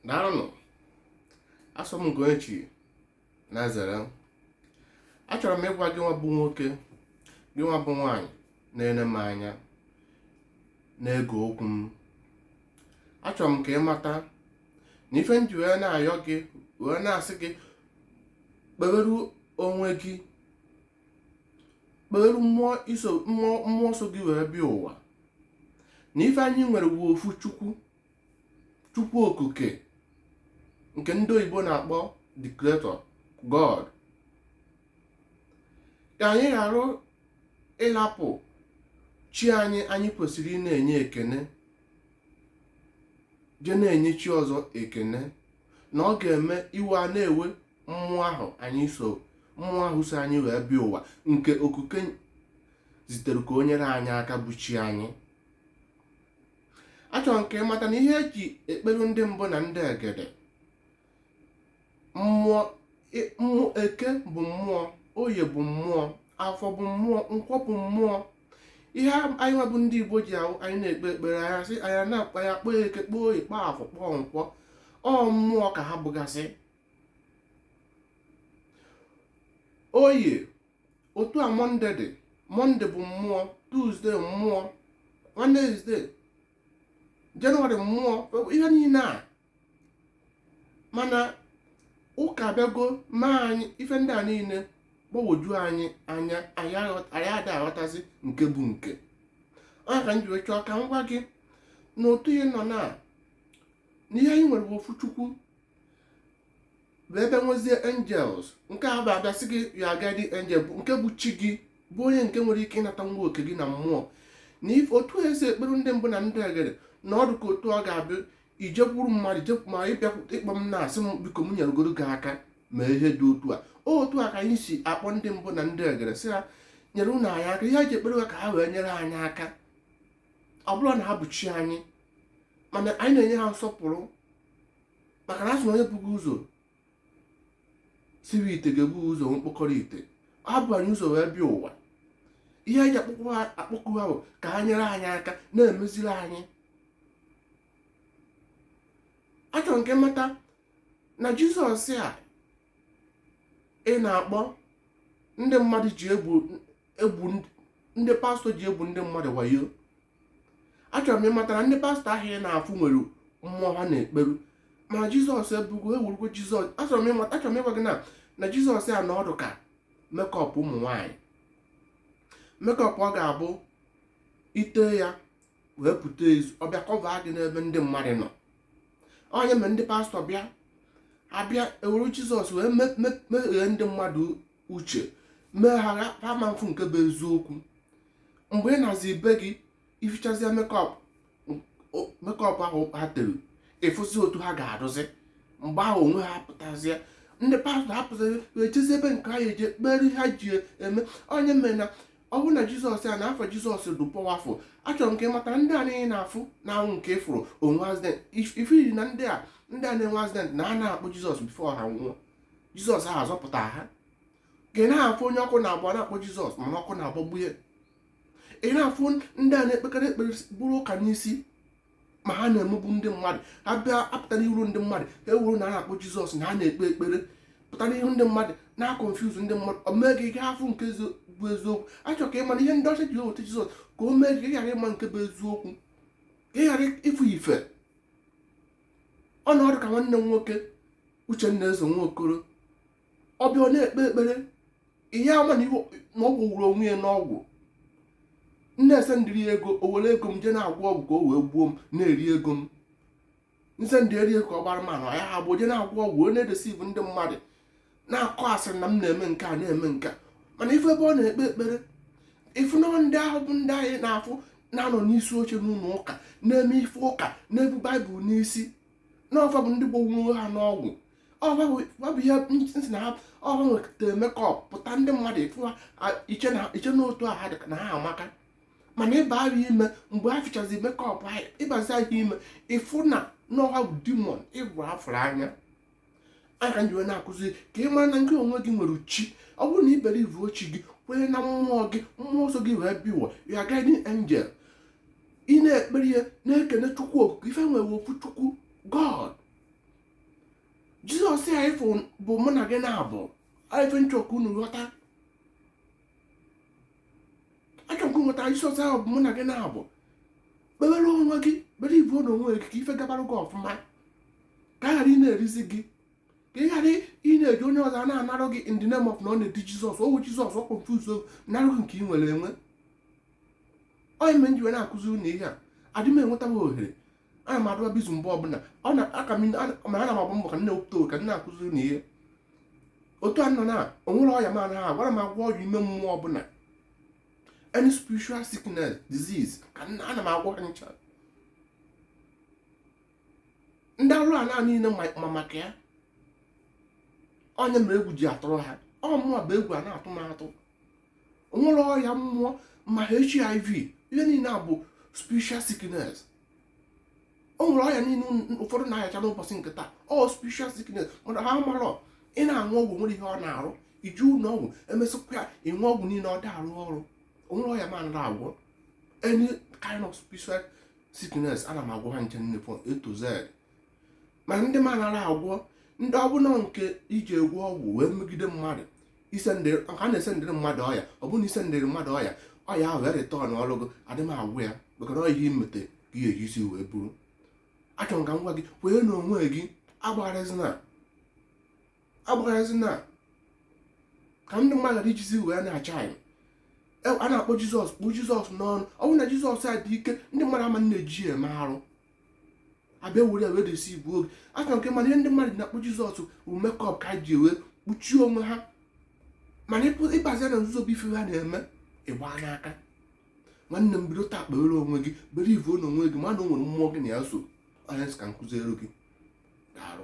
daalụnụ asọ m Ugochi na-ezere achọrọ m ịgwa gị nwa bụ nwoke gị nwa bụ nwaanyị na-ene m anya na-ege okwu m achọrọ m ka ị mata na ife nji wee na-ayọ gị wee na-asị gị kpeweru onwe gị kpeweru mmụọ so gị wee bịa ụwa na ife anyị nwere bụ ofu chukwu chukwu okike nke ndị oyibo na-akpọ the creator god ka anyị ghara ịlapụ chi anyị anyị kwesịrị ịna-enye ekene je na-enye chi ọzọ ekene na ọ ga-eme iwe a na-ewe mmụọ ahụ anyị so mmụọ ahụ so anyị wee bịa ụwa nke okike zitere ka o nyere anyị aka bụ chi anyị achọrọ m ka ị mata na ihe eji ekperu ndị mbụ na ndị egede eke bụ mmụọ oye bụ mmụọ afọ bụ mmụọ nkwọ bụ mmụọ ihe anyị nwa bụ ndị igbo ji ahụ anyị na-ekpe ekpere anyị sị anyị na-akpọ ya kpọọ eke kpọọ oye kpọọ afọ kpọọ nkwọ ọ mmụọ ka ha bụgasị oye otu a mọnde dị mọnde bụ mmụọ tuzde mmụọ wenezde jenụwarị mmụọ ihe niile a mana ụka abịago mee anyị ife ndị a niile gbagwoju anyị anya anyị ada aghọtazi nke bụ nke ọ ya ka m ji wee chọọ ka m gwa gị na otu ihe nọ na n'ihe anyị nwere bụ ofu chukwu wee bịa nwezie angels nke a bụ abịa sị gị your guardian angel bụ nke bụ chi gị bụ onye nke nwere ike ịnata nwa oke gị na mmụọ na ife otu esi ekpere ndị mbụ na ndị egede na ọ dụ ka otu ọ ga-abịa ijekwuru mmadụ jepụ ma ị bịa ịkpọ m na-asị m biko m nyerugodu gị aka mee ihe dị otu a otu a ka anyị si akpọ ndị mbụ na ndị egede sị ha nyerenụ anyị aka ihe eji ekpere ha ka ha wee nyere anyị aka ọ bụrọ na ha bụ chi anyị mana anyị na-enye ha nsọpụrụ maka na asị na onye buga ụzọ siwe ite ga-ebu ụzọ nwee mkpọkọrọ ite ha bu anyị ụzọ wee bịa ụwa ihe eji akpọku ha bụ ka ha nyere anyị aka na-emeziri anyị achọrọ m ka ị mata na jizọs a ị na-akpọ ndị mmadụ ji egbu egbu ndị- ndị pastọ ji egbu ndị mmadụ wayo achọrọ m ịmata na ndị pastọ ahụ ị na-afụ nwere mmụọ ha na-ekperu mana jizọs ebugo ewurugo jizọs achọrọ m ịmata achọrọ m ịgwa gị na na jizọs a na ọ dụ ka makeup ụmụ nwaanyị makeup ọ ga-abụ i te ya wee pụta ezi ọ bịa cover gị n'ebe ndị mmadụ nọ ọ nya mere ndị pastọ bịa abịa ewuru jizọs wee me- me- meghee ndị mmadụ uche mee ha ha ama afụ nke bụ eziokwu mgbe ị nazị ibe gị i fichazịa makeup makeup ahụ ha tere ị fụzi otu ha ga-adụzi mgbe ahụ onwe ha pụtazịa ndị pastọ apụtazi ejezi ebe nke ha eje kpere ha ji eme ọ nya mere na ọ bụrụ na jizọs a na afa jizọs dị powerful achọrọ m ka ị mata ndị a niile na-afụ na-anwụ nke ị fụrụ onwe accident ifiri na ndị a ndị a na-enwe accident na ha na-akpọ jizọs before ha nwụọ jizọs ahụ azọpụta ha ị na-afụ onye ọkụ na-agba na-akpọ jizọs mana ọkụ na-agbagbu ya ị na-afụ ndị a na-ekpekarị ekpere buru ụka n'isi ma ha na-emegbu ndị mmadụ ha bịa apụta n'iru ndị mmadụ ha ewuru na ha na-akpọ jizọs na ha na-ekpe ekpere pụta n'ihu ndị mmadụ na-aconfuse ndị mmadụ o mee gị ghara ịfụ nke bụ eziokwu achọ m ka ị ma na ihe ndị ọcha ji eweta jizọs ka o mee gị ghara ịma nke bụ eziokwu ka ị ghara ịfụ ife ọ na-adụ ka nwanne m nwoke uchenna eze nwa okoro ọ bịa ọ na-ekpe ekpere ị ya ama na ọ gwọwuru onwe ya n'ọgwụ m na-esendiri ego o were ego m jee na-agwọ ọgwụ ka o wee gbuo m na-eri ego m m sendiri ego ọ gbara mmanụ ya hapụ jee na-agwọ ọgwụ onye na-edeceive ndị mmadụ na-akọ asịrị na m na-eme nke a na-eme nke a mana ị fụ ebe ọ na-ekpe ekpere ị fụ na ndị ahụ bụ ndị anyị na-afụ na-anọ n'isi oche n'ụlọ ụka na-eme ife ụka na-ebu baịbụl n'isi na ọ fa bụ ndị gwọgburu ha n'ọgwụ ọ bụ ihe m sị na ha ọrụ nwetara makeup pụta ndị mmadụ ị fụ ha i che na otu ha dị na ha amaka mana ị ba ha ime mgbe ha fichazi makeup ahụ ị bazi ha ime ị fụ na na ọ ha bụ demon ịbụ afụrụ anya ọ nya ka m ji wee na-akụzi ka ị mara na nke onwe gị nwere chi ọ bụrụ na i believuo chi gị kwenye na mmụọ gị mmụọ so gị wee bịa ụwa your guardian angel ị na-ekpere ya na-ekene chukwu okike ife e nwere ofu chukwu god jizọs a ị fụ bụ mụ na gị na-abụ ife m chọ ka unu ghọta achọ m ka unu ghọta jizọs ahụ bụ mụ na gị na-abụ kpewere onwe gị believe na onwe gị ka ife gabara gị ọfụma ka a ghara ị na-erizi gị ka ị ghara ị na-eje onye ọzọ na-anarụ gị in the name of na ọ na-edi jizọs o wu jizọs ọ confuse narụ gị nke ị nwere enwe ọ nya me m ji wee na-akụzi unu ihe a adị m enweta m ohere ana m adụba busy mgbe ọbụla ọ na aka m ma ana m agba mbọ ka m na-ewepụta oge m na-akụziri unu ihe otu a nọ na onwerọ ọya m anaghị agwọ ana m agwọ ọya ime mmụọ ọbụla any spiritual sickness disease ka ana m agwọ ncha ndị arụ ala niile ma maka ya onye mere egwu ji atụrụ ha ọ mụwa bụ egwu a na-atụ m atụ onwere ọya mmụọ ma hiv ihe niile a bụ spiritual sickness o nwere ọya niile ụfọdụ na-ayacha n'ụbọchị nke taa ọ spiritual sickness mana ha marọ ị na-aṅụ ọgwụ onwerọ ihe ọ na-arụ ije ụlọ ọgwụ emesịkwa ya ịṅụ ọgwụ niile ọ da-arụ ọrụ onwerọ ọya m anarọ agwọ any kind of spiritual sickness ana m agwọ ha ncha niile from a to z ma ndị m anarọ agwọ ndị ọbụla nke ije gwọọ ọgwụ wee megide mmadụ isendịa na-esendịrị mmadụ ọya ọ bụrụ na isendịrị mmadụ ọya ọya ahụ wee return n'arụ gị adị m agwọ ya maka na ọ ihe imete ka ị ya-eji isi wee buru achọrọ m ka m gwa gị kwee na onwe gị agbagharịzina agbagharịzina ka ndị mmadụ ghara ijizi wee na-acha anyị E, a na-akpọ jizọs kpụ jizọs n'ọnụ ọ bụrụ na jizọs a dị ike ndị mmadụ ama na-eji ya eme arụ abịa were ya wee deceivuo gị achọ m ka ị ma na ihe ndị mmadụ na-akpọ jizọs bụ makeup ka ha ji wee kpuchie onwe ha mana ịbazia na nzuzo bụ ife ha na-eme ịgba n'aka nwanne m bido taa kpewere onwe gị believuo na onwe gị ma na o nwere mmụọ gị na ya so ọ ya ka m kụzieru gị daalụ